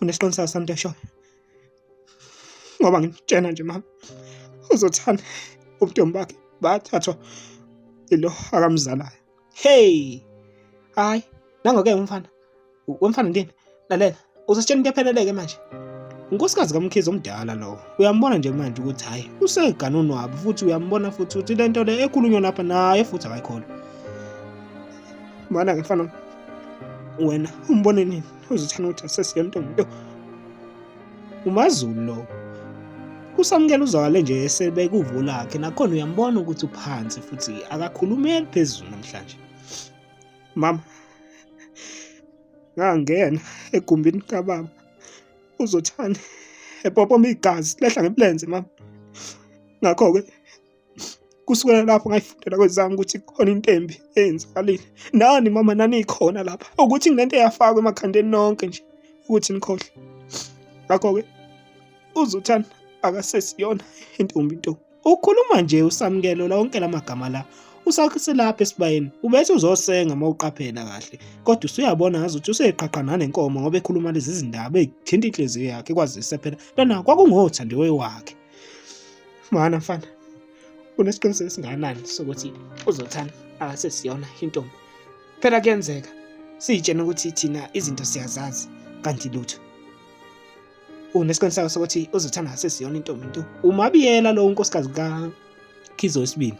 unesiqinisekiso sami into eshoyo ngoba ngimtshena nje mama uzothanda ubuntombi bakhe bathathwa ilo akamzalayo hey hayi nangoke umfana wemfana ndini lalela uzositshela into epheleleke manje unkosikazi kamkhize omdala lowo uyambona nje manje ukuthi hhayi usegane unwabi futhi uyambona futhi ukuthi le nto le ekhulunywa lapha naye futhi akayikhona mana ngifana wena umbone nini uzithina ukuthi asesiye ntombi nto umazulu lowo usamukela uzwakale nje esebekuvo lakhe nakhona uyambona ukuthi uphansi futhi akakhulumeli phezulu namhlanje mama ngangena egumbini kababa uzothani epopoma igazi lehla ngebulenze mama ngakho-ke kusukela lapho ngayifundela kwezami ukuthi khona into embi eyenzakalile nani mama naniyikhona lapha ukuthi nginento eyafakwa emakhandeni nonke nje ukuthi nikhohle ngakho-ke uzuthani akasesiyona intombi nto ukhuluma nje usamukelo lonke la magama la usaselapha esibayeni ubethi uzosenga uma uqaphela kahle kodwa usuyabona ngazi ukuthi useqhaqa nanenkomo ngoba ekhuluma lezi zindaba ezithinta inhliziyo yakhe kwazise phela lona kwakungothandiwe wakhe Mwana mfana, unesiqiniseko esingakanani sokuthi uzothanda akasesiyona intombi? Phela kuyenzeka siyitshena ukuthi thina izinto siyazazi kanti lutho. Unesiqiniseko sokuthi uzothanda akasesiyona intombi nto? Umabiyela lo unkosikazi ka Khizo wesibili.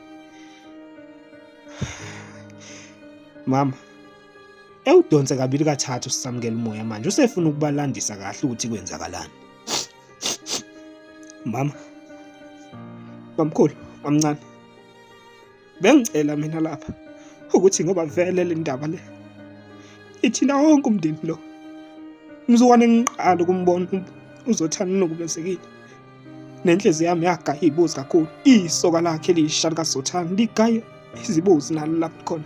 Mama, ewudonse kabili kathathu sisamukela umoya manje usefuna ukubalandisa kahle ukuthi kwenzakalani. mama bamkhulu bamncane bengicela mina lapha ukuthi ngoba vele le ndaba le ithina wonke umndeni lo umzukwane ngiqala ukumbona uzothana nokumezekile nenhliziyo yami yagaya ibuzi kakhulu isoka lakhe lisha likazothana ligaye izibozi nalo lapho khona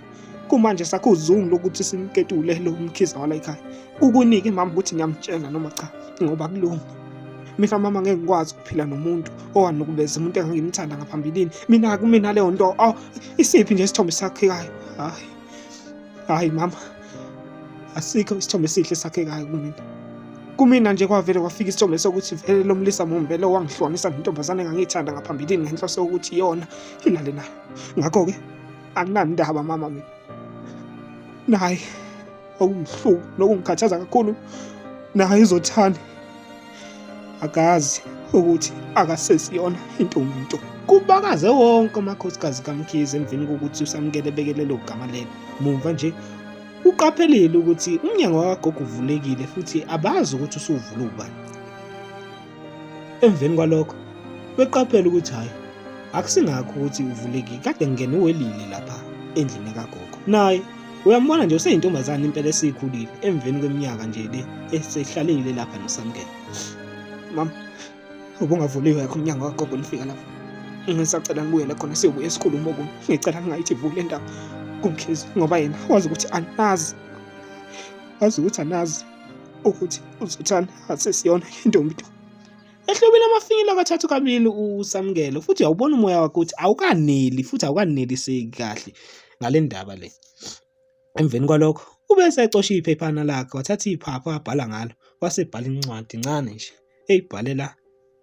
kumanje sakho uzungu lokuthi simketule lo mkhize wala ekhaya ukunike mama ukuthi ngiyamtshela noma cha ngoba kulungi mina mama ngeke ngikwazi ukuphila nomuntu owanukubeza umuntu engangimthanda ngaphambilini mina kumina leyo nto aw isiphi nje isithombe sakhekayo hayi hayi mama asikho isithombe esihle sakhekayo kumina kumina nje kwavele kwafika isithombe sokuthi vele lomlisa mumbele owangihlonisa ngentombazane engangiyithanda ngaphambilini ngenhloso yokuthi yona ilale nayo ngakho-ke anginandaba mama mina naye okungihlupha nokungikhathaza kakhulu naye izothani akazi ukuthi akasesiyona intombi nto kubakaze wonke amakhosikazi kamkhize emveni kokuthi usamukele ebekele lo gama lelo mumva nje uqaphelile ukuthi umnyango wakagogo uvulekile futhi abazi ukuthi usuvula ubani Emveni kwalokho beqaphela ukuthi hhayi akusingakho ukuthi uvuleki kade ngingene uwelile lapha endlini kagogo naye uyambona nje useyintombazane impela esiyikhulile emveni kweminyaka nje le esehlalile lapha nosamkela mama ubungavuliwe yakho umnyango kagogo lifika lapha ngisacela ngibuyele khona siyobuya esikhulumo okunye ngicela ngingayithi vule ndaba kumkhizi ngoba yena wazi ukuthi anazi wazi ukuthi anazi ukuthi uzothanda asesiyona intombi to ehlobile amafinyila kathathu kabili usamukelo futhi awubona umoya wakho ukuthi awukaneli futhi awukaneliseki kahle ngale ndaba le emveni kwalokho ube esecosha iphephana lakhe wathatha iphapha wabhala ngalo wasebhala incwadi ncane nje eyibhalela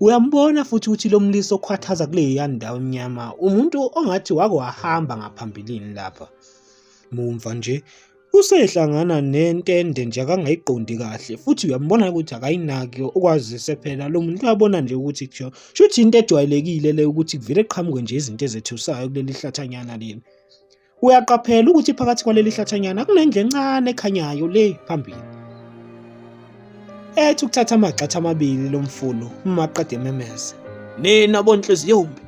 Uyambona futhi ukuthi lo mlisa okhwathaza kuleya ndawo emnyama umuntu ongathi wake wahamba ngaphambilini lapha. Mumva nje usehlangana nentende nje akangayiqondi kahle futhi uyambona ukuthi akayinaki ukwazise phela lo muntu uyabona nje ukuthi kusho shuthi into ejwayelekile le ukuthi kuvele qhamuke nje izinto ezethusayo kuleli hlathanyana leli. Uyaqaphela ukuthi phakathi kwaleli hlathanyana kunendlu encane ekhanyayo le phambili. Ethi ukuthatha amagxatha amabili lo mfulu uma aqeda ememeza. Nina bonhliziyombi,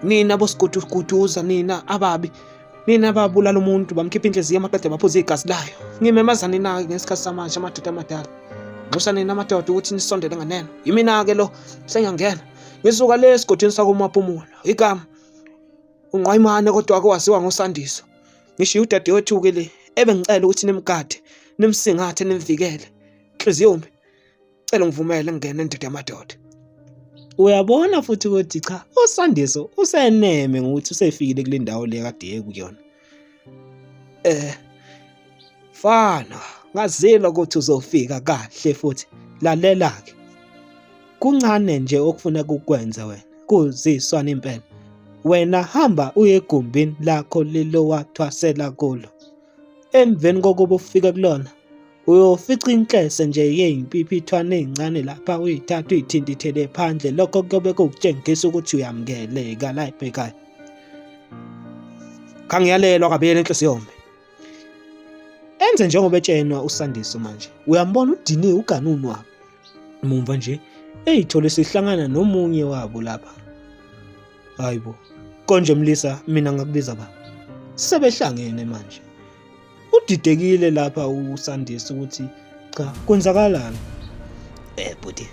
nina bosiguduguduza, nina ababi, nina babulala umuntu bamkhipha inhliziyo amaqede baphuza igazi layo. Ngimemaza nina-ke ngesikhathi samanje amadoda amadala. Nxusa nina amadoda ukuthi nisondele nganeno. Yimina-ke lo sengiyangena. Ngisuka le esigodini sakoMapumulo. Igama unqwayimane kodwa wake waziwa ngosandiso ngishiye udadewethu-ke le ebengicela ukuthi nimgade nimsingathe nimvikele nhliziyomi cela ngivumele ngingene ndoda yamadoda uyabona futhi ukuthi cha usandiso useneme ngokuthi usefikile kule ndawo le kade ekuyona Eh fana ngazile ukuthi uzofika kahle futhi lalela ke kuncane nje okufuna kukwenze wena kuziswana impela wena hamba uye egumbini lakho lilowathwasela kulo emveni kokuba ufike kulona uyofica inhlese nje yeyimpipithwane eyincane lapha uyithatha uyithintithele phandle lokho kuyobe kukutshengisa ukuthi uyamukeleka la ebhekayo khangiyalelwa kabiyela inhliziyo yombe enze njengoba etshenwa usandiso manje uyambona udiniwe uganunwa mumva nje eyithole sihlangana nomunye wabo lapha hayibo konje mlisa mina ngakubiza ba sebehlangene manje udidekile lapha usandisa ukuthi cha kwenzakalani eh bhuti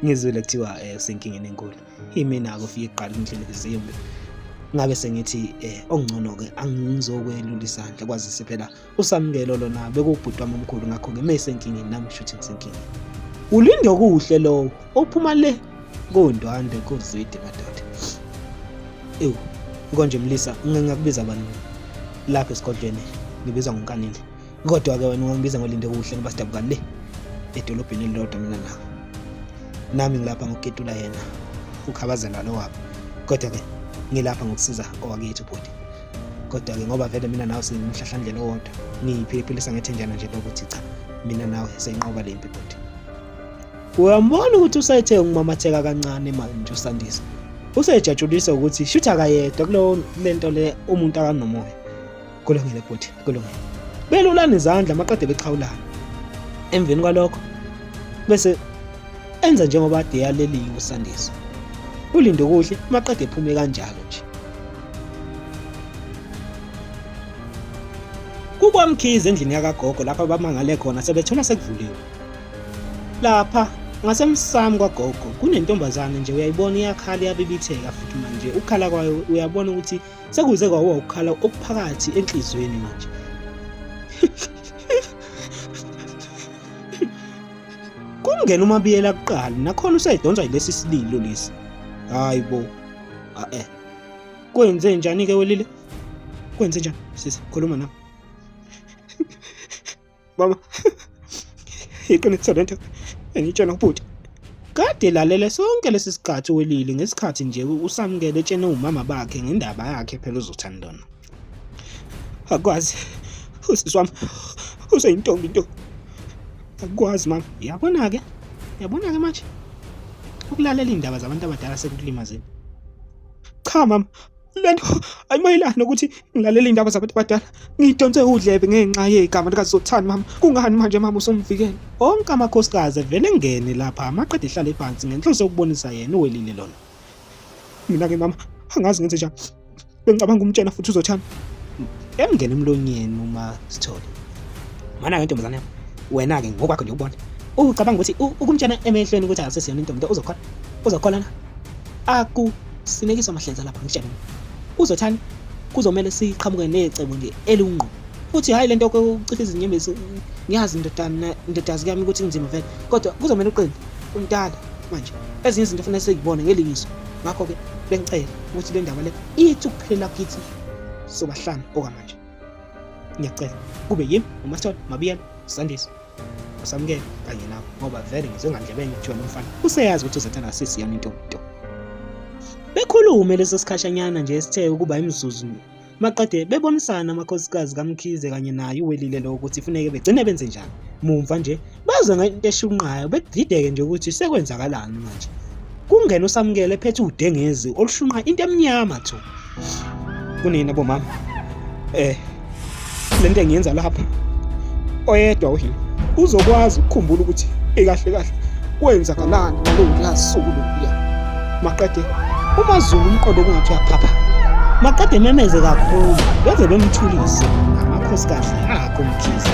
ngizwile kuthiwa eh usenkingeni enkulu imina akufike kuqala indlela ezimbi ngabe sengithi eh okungcono ke angizokwelula isandla kwazise phela usamukelo lona bekubhutwa omkhulu ngakho ke mesenkingeni nami shuthi ngisenkingeni ulinde okuhle lowo ophuma le kundwandwe kuzwidi madoda ewu konje mlisa ngingakubiza bani lapha esigodlweni ngibizwa ngonkanile kodwa-ke wena ungangibiza ngolinde kuhle ngoba sidabukani le edolobheni elilodwa mina nawe nami ngilapha ngokuketula yena ukhabazela lo wabo kodwa-ke ngilapha ngokusiza owakethu bhuti kodwa-ke ngoba vele mina nawe singumhlahlandlela owodwa ngiyiphiphilisa ngethenjana nje lokuthi cha mina nawe seyinqoba le mpi bhuti Uyambona ukuthi usethe umamatheka kancane manje uSandisa. Usejatshulisa ukuthi shuthi akayedwa kulo lento le umuntu akanomoya. Kulungile bhuti, kulungile. Belulana izandla maqede bexhawulana. Emveni kwalokho bese enza njengoba ade yaleliwe uSandisa. Ulinde kuhle maqede ephume kanjalo nje. Kukwamkhize endlini yakagogo lapho abamangale khona sebethola sekuvuliwe. lapha ngasemsamo kwagogo kunentombazane nje uyayibona iyakhala iyabibitheka futhi manje ukukhala kwayo uyabona ukuthi sekuze kwawo ukukhala okuphakathi enhliziyweni manje kungena umabiyela kuqala nakhona usayidonsa yilesi sililo lesi hayi bo ae eh. kwenze njani ke welile kwenze njani sisi khuluma nami Baba, iqiniso lento engitshela ubhuti. Kade lalele sonke lesi sikhathi welile ngesikhathi nje usamukele etshene umama bakhe ngendaba yakhe phela uzothandana. Akwazi usisi wami useyintombi into. Akwazi mama, yabona ke. Yabona ke manje. Ukulalela indaba zabantu abadala sekulimazini. Cha mama, le nto ayimayelani nokuthi ngilalele iy'ndaba zabantu abadala ngidonse udlebe ngenxa yegama likazothani mama kungani manje mama usumvikele onke amakhosikazi evele ngene lapha amaqeda ehlale phansi ngenhloso yokubonisa yena uwelile lona mina-ke mama angazi ngenze njani bengicabanga umtshela futhi uzothani emngene emlonyeni uma sithole mana-ke ntombazane yam wena-ke ngokwakho nje ubona ucabanga ukuthi ukumtshena emehlweni ukuthi akusesiyona intombi into uzokhona uzokhona na Aku sinekiswa mahlenza lapha ngitshela. Kuzothani? Kuzomela siqhamuke necebo nje elungqo. Futhi hayi lento yokucipha izinyembezi ngiyazi ndodana ndodazi kami ukuthi kunzima vele kodwa kuzomela uqine umdala manje ezinye izinto fanele seyibone ngelingiso ngakho ke bengicela ukuthi le ndaba le ithi ukuphelela kithi sobahlanu okwamanje ngiyacela kube yimi umasithole mabiyela sandisa usamukele kanye nawe ngoba vele ngizwe ngandlebe enye kuthiwa lomfana useyazi ukuthi uzathanda sisi yami into into bekhulume leso sikhashanyana nje esithe ukuba imizuzu maqede bebonisana amakhosikazi kamkhize kanye naye uwelile lo ukuthi funeke begcine benze njani mumva nje baze ngento eshunqayo bedideke nje ukuthi sekwenzakalani manje kungena usamukele ephethe udengezi olushunqa into emnyama thu kunina bomama eh le nto engiyenza lapha oyedwa uhilo uzokwazi ukukhumbula ukuthi ikahle kahle kwenzakalani ngalowolasuku lokuya maqede umazulu umqondo kungathi uyaphapha maqede ememeze kakhulu beze bemthulise amakhosikazi akho mkhize